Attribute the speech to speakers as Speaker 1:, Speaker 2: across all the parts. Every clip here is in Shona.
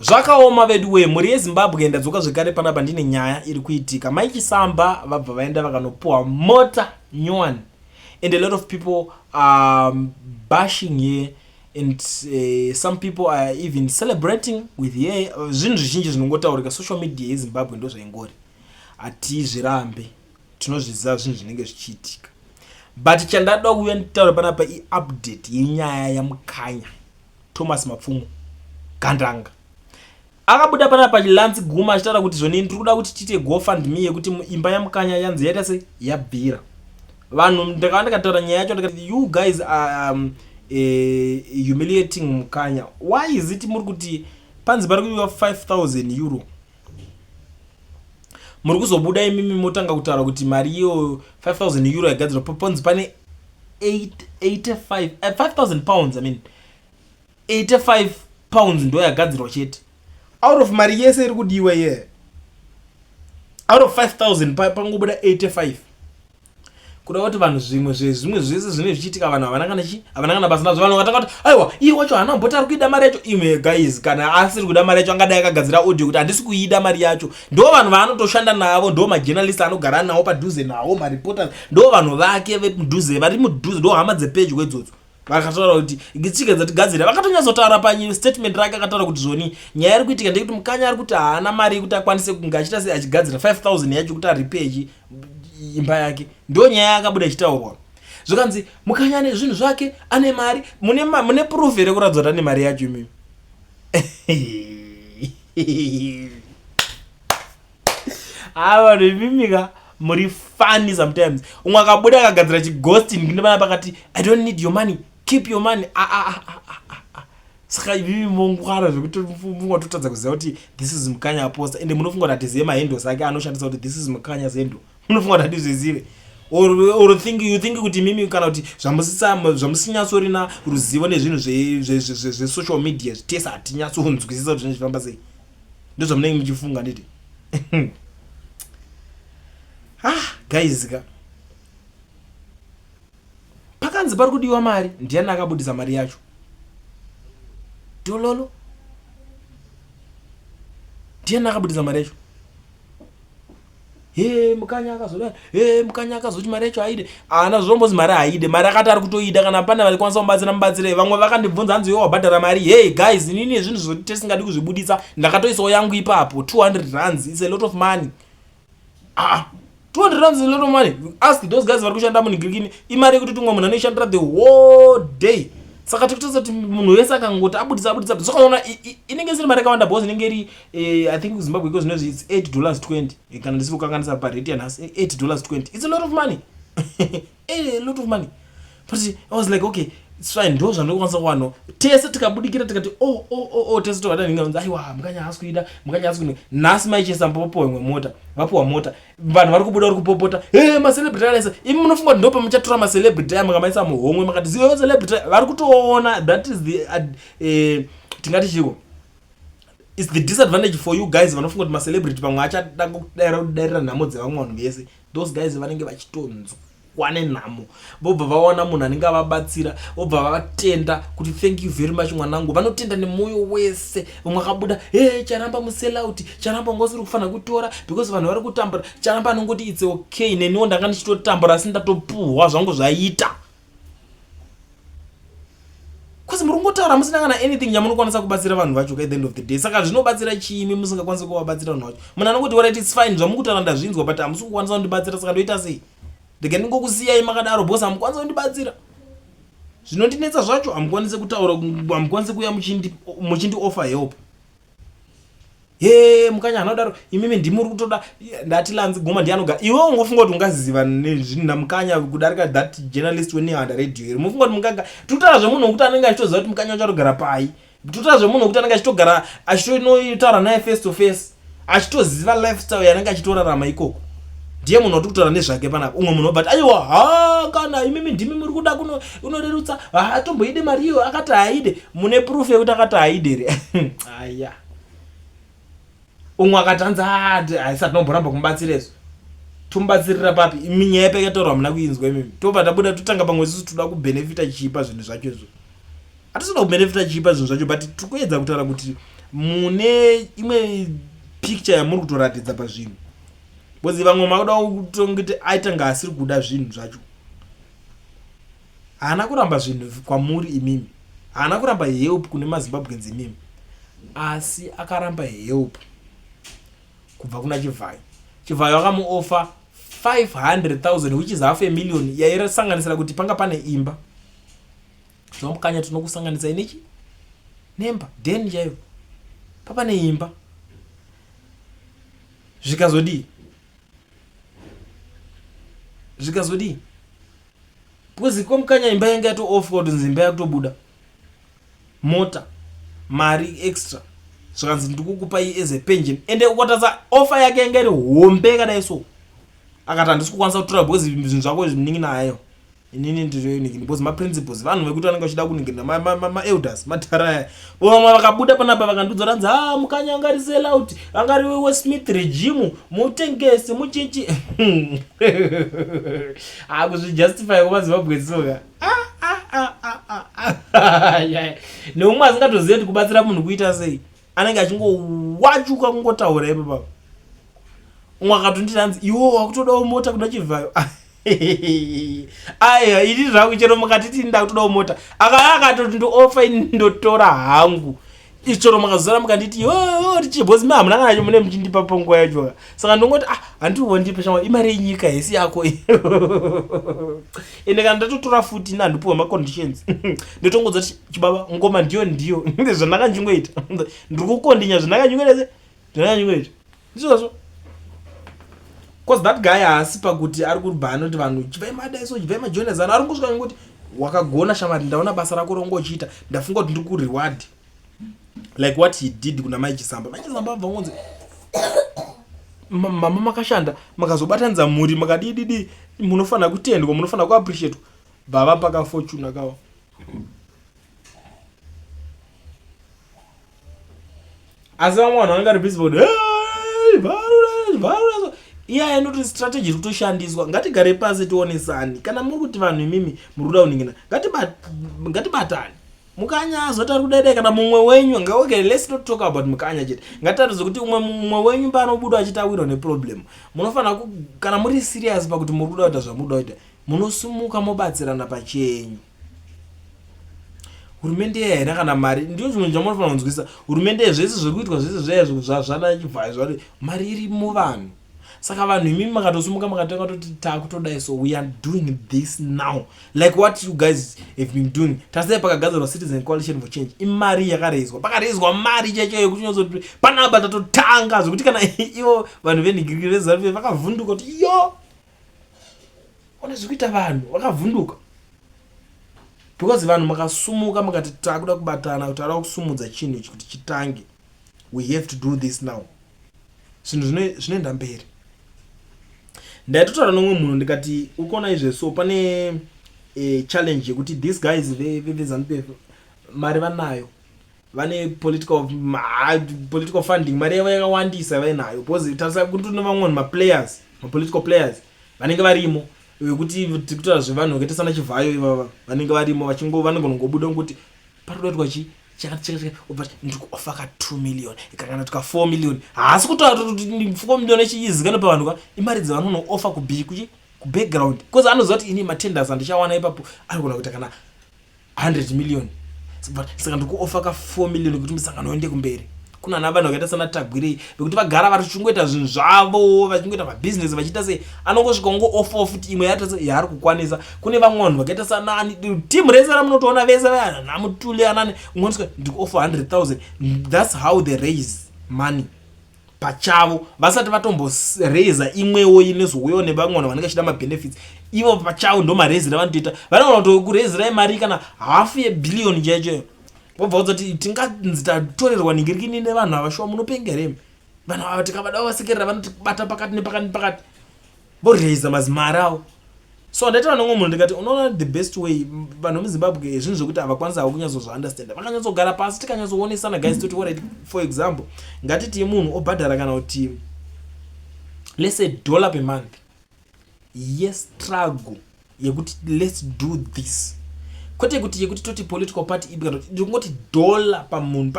Speaker 1: Zvakaoma veduwee, mhuri yeZimbabwe ndadzoka zvekare panapa ndine nyaya iri kuitika. Mai Chisamba vabva vaenda vakanopuwa mota nyowani and a lot of people are um, bashing here and uh, some people are even celebrating with ye zvinhu zvizhinji zvinongotaurika social media yezimbabwe ndo zvaingori hatizvirambe tinozviziva zvinhu zvinenge zvichiitika but chandada kuuya nditaura panapa iupdate yenyaya yamukanya Thomas Mapfumo Gandanga akabuda pana pachilanzi guma achitaura kuti zvonini tiri kuda kuti tiite gofundme yekuti imba yamukanya yanzi yaita se yabvira vanhu ndakava ndikataura nyaya yacho ndikati you guys are um, eh, humiliating mukanya why is it muri kuti panzi pari kuiwa 5000 euro muri kuzobuda imimi motanga kutaura kuti mari iyo 5000 euro yagadzirwa paponzi pane 5000 eh, pounds i mean 85 pounds ndo yagadzirwa chete out of mari yese iri kudiwa iye out of 5000 pangobuda 85 kuda kuti vanhu zvimwe zvezvimwe zvese zvinenge zvichiitika vanhu havana kana chii havana kana basa nazvo vanhu vakatanga kuti aiwa iye wacho haana mboti ari kuida mari yacho imwe guys kana asiri kuda mari yacho angadai akagadzira audio kuti handisi kuida mari yacho ndo vanhu vaanotoshanda navo ndo majournalist anogara nawo padhuze nawo mareporters ndo vanhu vake vemudhuze vari mudhuze ndo hama dzepedyo idzodzo vakataura kuti ngitsika dzatigadzira vakatonyatsotaura pastatement rake akataura kuti zvoni nyaya iri kuitika ndeyekuti mukanya ari kuti haana mari yekuti akwanise kunge achita sei achigadzira 5000 yacho kuti aripechi imba yake ndo nyaya yakabuda ichitaurwa zvikanzi mukanya ane zvinhu zvake ane mari mune, ma, mune proof here kuratidza kuti ane mari yacho imimi haa vanhu imimika muri funny sometimes umwe akabuda akagadzira chighosting ndimana pakati i don't need your money keep your money ah, ah, ah, ah, ah. saka ivivi mongwara zvekuti mfunga totadza kuziva kuti this is mukanya aposta ende munofunga kuti hatizive mahandles ake anoshandisa kuti this is mukanya zendo munofunga kuti hatizvizive or, or think, you think kuti mimi kana kuti zvamusinyatsorina ruzivo nezvinhu zvesocial zve, zve, zve media tese hatinyatsonzwisisa kuti zvinenge zvichifamba sei ndozvamunenge muchifunga nditi ah guys ka Pakanzi pari kudiwa mari ndiani akabudisa mari yacho? Dololo. Ndiani akabudisa mari yacho? Hey, mukanya akazoda hey, mukanya akazoti mari yacho aide ana zvombozi mari aide mari akati ari kutoida kana pane vaikwanisa kubatsira mubatsire vamwe vakandibvunza hanzi iwe wabhadhara mari hey guys inini ezvinhu zvoti tesingadi kuzvibudisa ndakatoisawo yangu ipapo 200 rands is a lot of money ah 200 rand is a lot of money ask those guys vari kushanda munigirikini imari yekuti tumwe munhu anoishandira the whole day saka tikutotsa kuti munhu wese akangoti abudisa abudisa abudisa sokaona inenge isiri mari yakawanda bos inenge iri eh, i think zimbabwe iko zvinozvi its 8 dollars 20 eh, kana ndisiri kukanganisa parate yanhasi 8 eh, dollars 20 its a lot of money eh, a lot of money but i was like okay it's fine ndo zvandokwanisa kuwano tese tikabudikira tikati o oh, o oh, o oh, o tese tokada ninga nzi aiwa mukanya haasi kuida mukanya haasi kuida nhasi maichesa mpopopo imwe mota vapuwa mota vanhu vari kubuda vari kupopota he macelebrity alaisa imi munofunga kuti ndopa muchatora macelebrity aya makamaisa muhomwe makati ziyo celebrity vari kutoona that is the uh, eh, tingati chiko its the disadvantage for you guys vanofunga kuti macelebrity pamwe achada kudaira kudairira nhamo dzevamwe vanhu vese those guys vanenge vachitonzwa wane nhamo vobva vawana munhu anenge avabatsira vobva vatenda kuti thank you very much mwanangu vanotenda nemwoyo wese vamwe akabuda e charamba muselauti charamba wanga usiri kufanira kutora because vanhu vari kutambura charamba anongoti its okay neniwo ndanga ndichitotambura asi ndatopuhwa zvangu zvaita bcause muri kungotaura musina kana anything yamunokwanisa kubatsira vanhu vacho at the end of the day saka zvinobatsira chiimi musingakwanisi kuvabatsira vanhu vacho munhu anongoti warit its fine zvamukutaura ndazvinzwa but hamusi kukwanisa kundibatsira saka ndoita sei ndege ndingokusiyai makadaro bcause hamukwanisa kundibatsira zvinondinetsa zvacho hamukwanisi kutaura hamukwanisi kuuya muchindi offer help hee mukanya hana kudaro imimi ndimuri kutoda ndati lanzi goma ndianoga iwe ungofunga kuti ungaziva nezvinhu namukanya kudarika that journalist wenewanda radio here mufunga kuti mungaga tutaura zvemunhu wekuti anenge achitoziva kuti mukanya uchatogara pai tutaura zvemunhu wekuti anenge achitogara achitonotaura naye face to face achitoziva lifestyle yanenge achitorarama ikoko ndiye munhu wati kutaura nezvake panapa umwe munhu obati aiwa ha kana imimi ndimi muri kuda kuno unorerutsa haatomboide mari iyo akati haide mune proof yekuti akati haide here aya umwe akati hanzi ati haisati nomboramba kumubatsira izvo tomubatsirira papi imi nyaya yepeke taura hamuna kuinzwa imimi tobva tabuda totanga pamwe isusu toda kubenefita chiipa zvinhu zvacho izvo hatisina kubenefita chiipa zvinhu zvacho but tiri kuedza kutaura kuti mune imwe picture yamuri kutoratidza pazvinhu bcause vamwe makuda kutongiti aitanga asiri kuda zvinhu zvacho haana kuramba zvinhu kwamuri imimi haana kuramba help kune mazimbabweans imimi asi akaramba help kubva kuna chivhayo chivhayo akamuofa 500000 which is half a million yaisanganisira kuti panga pane imba tinomukanya tinokusanganisa inechi nemba den chaivo papane imba zvikazodii zvikazodii because kwamukanya imba yanga yatoofwa kutonzi imba yakutobuda mota mari extra zvikanzi ndikukupai as a pension ende ukatadza offer yake yanga iri hombe kadai so akati handisi kukwanisa kutora because zvinhu zvako zviningi nayo inini ndiriniki because maprinciples vanhu vekuti vanenge vachida kuningirira maelders madhara aya vamwe vakabuda panapa vakandiudza ranzi ha ah, mukanya angari selout angari wesmith regimu mutengesi muchichi akuzvijustify ah, kumazimbabwe soka ah, neumwe asingatozive kuti kubatsira munhu kuita sei anenge achingowachuka kungotaura ipo pavo umwe akatonditi hanzi iwo wakutodawo mota kuda chivhayo aya ini zvangu chero mukatiti ini ndakutodawo mota akava akatoti ndiofa ini ndotora hangu ichero makazozara mukanditi yo tichibhozi mi hamuna kana chimune muchindipa panguva yachoka saka ndongoti ah handiti wandipe shamwari imari yenyika hesi yako ende kana ndatotora futi ina handipuwa maconditions ndotongodza kuti chibaba ngoma ndiyo ndiyo zvandakanjingoita ndiri kukondinya zvandakanjingoita se zvandakanjingoita ndizvozvo bcause that guy haasi pakuti ari kuribaa anoti vanhu chivai madaiso chivai majoinazano ari ngosvika ngoti wakagona shamari ndaona basa rako rongochiita ndafunga kuti ndiri kureward like what he did kuna mai chisamba mai chisamba abva ngonzi mama makashanda makazobatanidza mhuri makadididi munofanira kutendwa munofanira kuappreciatwa bvava pakafortuna kawo asi vamwe vanhu vanenge ari busy voti iyaya anoti strategy iri kutoshandiswa ngatigare pasi tionesani kana muri kuti vanhu imimi muri kuda kuningina ngatibatani mukanya azotari kudaidai kana mumwe wenyu nga okay let's not talk about mukanya chete ngataridze kuti umwe mumwe wenyu paanobuda achitawirwa neproblem munofanira kana muri serious pakuti muri kuda kuita zvamuda kuita munosumuka mobatsirana pachenyu hurumende iya haina kana mari ndiyo chimwe chamunofanira kunzwisisa hurumende iya zvese zviri kuitwa zvese zvaya zvana chibvai zvati mari irimo vanhu saka vanhu imimi makatosimuka makatanga toti takutodai so we are doing this now like what you guys have been doing tasai pakagadzirwa citizen coalition for change imari yakareizwa pakareizwa mari chaicho yekuti unyazoti panaba tatotanga zvekuti kana ivo vanhu venhigiriki rezarufe vakavhunduka kuti yo ona zvekuita vanhu vakavhunduka because vanhu makasumuka makati takuda kubatana kuti ada kusumudza chinhu ichi kuti chitange we have to do this now zvinhu zvinoenda mberi ndaitotaura nomwe munhu ndikati ukona izve so pane e, challenge yekuti these guys vezanu pf mari vanayo vane political political funding mari yavo yakawandisa vainayo because tarisa kuti tine vamwe vanhu maplayers mapolitical players vanenge varimo vekuti tikutaura zvevanhu vakaita sana chivhayo ivava vanenge varimo vachingo vanogonongobuda ngokuti patodoitwa chii chakati chakati chakati obva ati, ndikuofa ka 2 million ikakana tika 4 million haasi kutaura kuti- kuti ni- 4 million ichiizikana pavanhu ka imari dzavanonooffa kubi kuchi kubackground because anoziva kuti ini matenders andichawana ipapo anogona kuita kana 100 million Saka- saka ndikuofa ka 4 million kuti musangano uende kumberi kunana vanhu vakaita sana tagwirei vekuti vagara vari chingoita zvinhu zvavo vachingoita mabhizinesi vachiita sei anongosvika ungo off off kuti imwe yata yaari kukwanisa kune vamwe vanhu vakaita sanani timu rese ramunotoona vese vanamutule anani umwe anosvika ndiko off 100000 thats how they raise money pachavo vasati vatomboraiza imwewo inezouyawo nevamwe vanhu vanenge vachida mabenefits ivo pachavo ndomaraizi ravanotoita vanogona kuto kuraizirai mari kana half yebillion chaichoyo wobva wozoti tinganzi tatorerwa ningirikini nevanhu ava shuwa munopenga here vanhu ava tikavada vavasekerera vanotibata pakati nepakati nepakati voraiza mazimari avo so handaita vanhu vamwe munhu ndikati unoona the best way vanhu vemuzimbabwe zvinhu zvekuti havakwanisa havo kunyatsozvaunderstanda vakanyatsogara pasi tikanyatsoonesana guys toti orit for example ngatitii munhu obhadhara kana kuti lese dollar pemonth yestruggle yekuti let's do this kwete kuti yekuti toti political party ipi kana tiri kungoti dollar pamunhu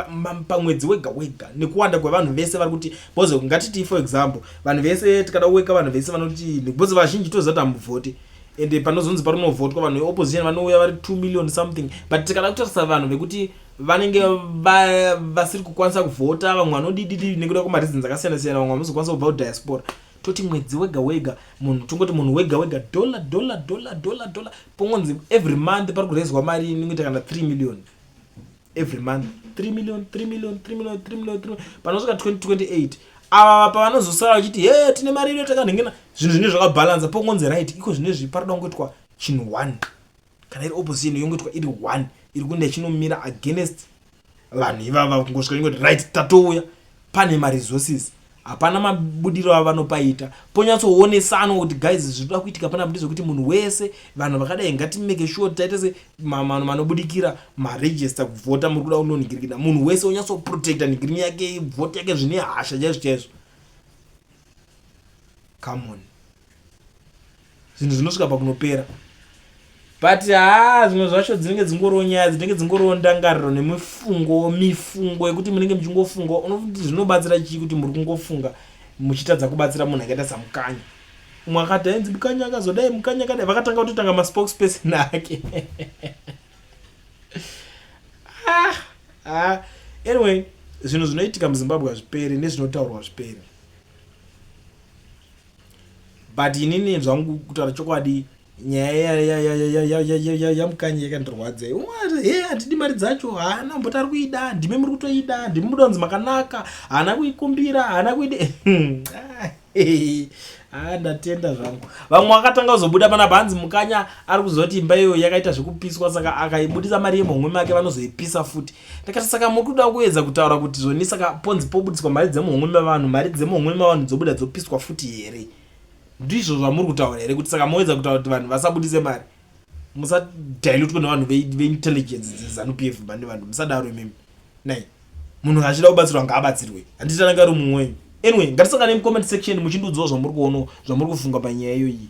Speaker 1: pamwedzi wega wega nekuwanda kwevanhu vese vari kuti bhozo ngatitii for example vanhu vese tikada kuweka vanhu vese vanoti bhozo vazhinji toziva kuti hamuvhoti ende panozonzi parinovhotwa vanhu veopposition vanouya vari two million something but tikada kutarisa vanhu vekuti vanenge vasiri kukwanisa kuvhota vamwe vanodididii nekuda kwemareasons akasiyana siyana vamwe vamozokwanisa kubva kudiaspora toti mwedzi wega wega munhu tongoti munhu wega wega dollar dollar dollar dollar dollar pongonzi every month pari kurezwa mari inoita kana 3 million every month 3 million 3 million 3 million 3 million 3 panosvika 2028 ava pavanozosara vachiti he tine mari ino takanhengena zvinhu zvinenge zvakabhalansa pongonzi right iko zvine zvi pari da kungoitwa chinhu one kana iri opposition yongoitwa iri one iri kuenda ichinomira against vanhu ivava kungosvika ingoti right tatouya pane maresources hapana mabudiro avo vanopaita ponyatsoonesanwa kuti guys zvinoda kuitika pana budi zvekuti munhu wese vanhu vakadai ngatimeke sure kuti taita se mamanhu manobudikira maregister kuvhota muri kuda unonhigirikina munhu wese onyatsoprotecta nhigirini yake vhoti yake zvine hasha chaizvo chaizvo come on zvinhu zvinosvika pakunopera but haa zvimwe zvacho dzinenge dzingoriwo nyaya dzinenge dzingoriwo ndangariro nemifungo mifungo yekuti munenge muchingofunga unokuti zvinobatsira chii kuti muri kungofunga muchitadza kubatsira munhu akaita samukanya umwe akati ainzi mukanya akazodai mukanya akadai vakatanga kutotanga maspokes person ake ah, ah. anyway zvinhu zvinoitika muzimbabwe hazviperi nezvinotaurwa zviperi but inini zvangu kutaura chokwadi nyaya yamukanya yakandirwadza he hatidi mari dzacho haana mboti ari kuida ndimi muri kutoida ndimi muda kunzi makanaka haana kuikumbira haana kuida haa ndatenda zvangu vamwe vakatanga kuzobuda panapa hanzi mukanya ari kuzoti imba iyo yakaita zvekupiswa saka akaibudisa mari yemhomwe make vanozoipisa futi ndikati saka muri kuda kuedza kutaura kuti zvoni saka ponzi pobudiswa mari dzemuhomwe mevanhu mari dzemuhomwe mevanhu dzobuda dzopiswa futi here ndizvo zvamuri kutaura here kuti saka moedza kutaura kuti vanhu vasabudise mari musadilutwe nevanhu veintelligence dzezanu p f mani vanhu musadaro imimi nai munhu achida kubatsirwa ngaabatsirwe handitanangari mumwe wenyu anyway ngatisangane mucomment section muchindiudzawo zvamuri kuono zvamuri kufunga panyaya iyoyi